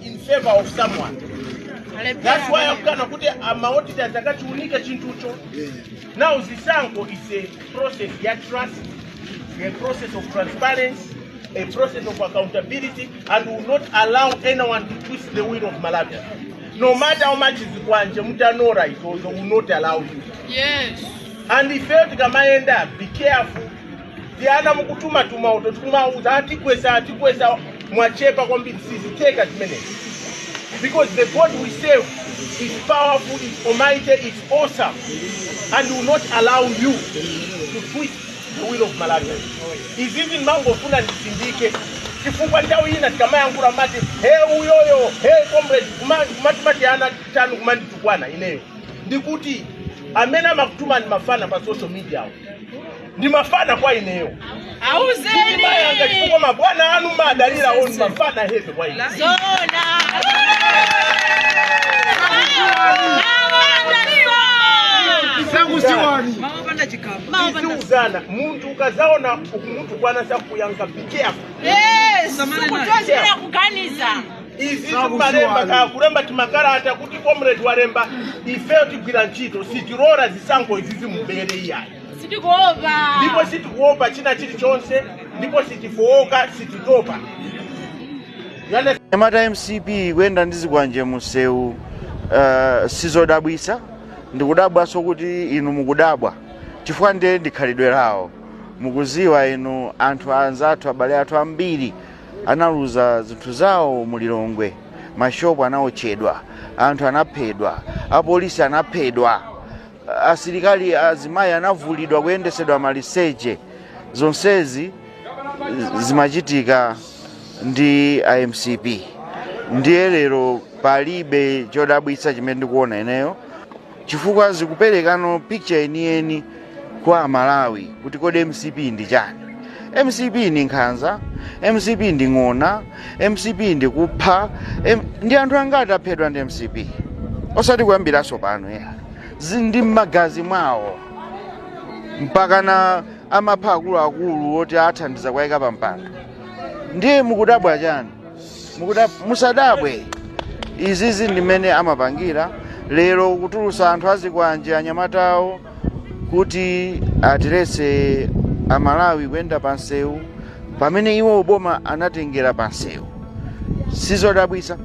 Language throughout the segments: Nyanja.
in favor of someone. That's why akukana kuti amaodita zakachiunika chinthucho. Now zisankho is a process ya trust, a process of transparency, a process of accountability and will not allow anyone to twist the will of Malawi. No matter how much zikwanje mutanora izozo will not allow you. Yes. and ifeyo tikamayenda be careful tiana mukutumatuma uto tikumauza atikwesa atikwesa mwachepa kwambiri sizitheka zimenezi because the god we serve is powerful is almighty is awesome and will not allow you to twist the will of Malawi izizi ndimangofuna ndisindike chifukwa nthawi ina tikamayankhula mati he uyoyo he comrade kumatuma tiana tanu kumanditukwana ineyo ndikuti amene amakutumani mafana pa social media awo ndi mafana kwa ineyo Auzeni. ndi anyanga chifukwa mabwana anu amadalirawo ndi mafana heve kwa ine Zona. Sangusiwani. Maopanda chikamu. tiziuzana munthu ukazaona ukumutukwana sakuyanka be careful Yes. Samani naye. Kuchedwera kuganiza. izi timalemba kaya kulemba timakalata kuti comrade walemba ifeyo tigwira ntchito sitilora zisankho izi zimubere iyayi sitikuopa ndipo sitikuopa china chilichonse ndipo sitifowoka sititopa anyamata mcp kuyenda ndi zikwanje musewu uh, sizodabwisa ndikudabwanso kuti inu mukudabwa chifukwa ndiye ndikhalidwe lawo mukuziwa inu anthu anzathu abale athu ambiri analuza zinthu zawo mu lilongwe mashopu anaotchedwa anthu anaphedwa apolisi anaphedwa asilikali azimayi anavulidwa kuyendesedwa maliseche zonsezi zimachitika ndi a mcp ndiye lero palibe chodabwitsa chimene ndikuona ineyo chifukwa zikupereka picture yeniyeni kwa amalawi kuti kodi mcp ndi chani mcp ndi nkhanza mcp ndi ng'ona mcp ndi kupha M- ndi anthu angati aphedwa ndi mcp osati kuyambiranso pano ayi zili mmagazi mwawo mpakana amapha akuluakulu oti awathandiza kuwayika pampando ndiye mukudabwa chani mukuda musadabwe izizi ndimene amapangira lero kutulusa anthu azikwanje anyamatawo kuti atiletse amalawi kuyenda pansewu pamene iwo uboma anatengera pansewu sizodabwisa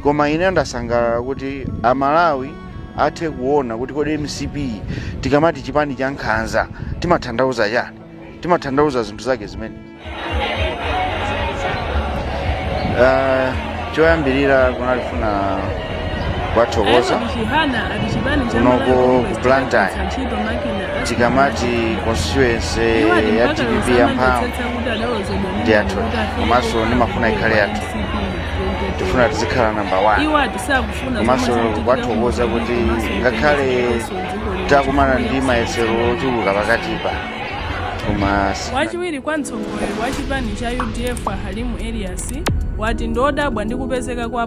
koma ine ndasangalala kuti amalawi athe kuona kuti kodi mcp tikamati chipani cha nkhanza timathandauza chani timathandauza zinthu zake zimene Ah, choyambirira kunali kufuna kuwathokoza kunoko ku blantyre tikamati constituency ya dpp ya mphamvu ndi yathu komanso ndimafuna ikhale yathu tifuna tizikhala namba 1 komanso kuwathokoza kuti ngakhale takumana ndi mayesero ochuluka pakatipa koma si- wachiwiri kwa mtsogoleri wa chipani cha udf a halimu elias wati ndi wodabwa ndi kupezeka kwa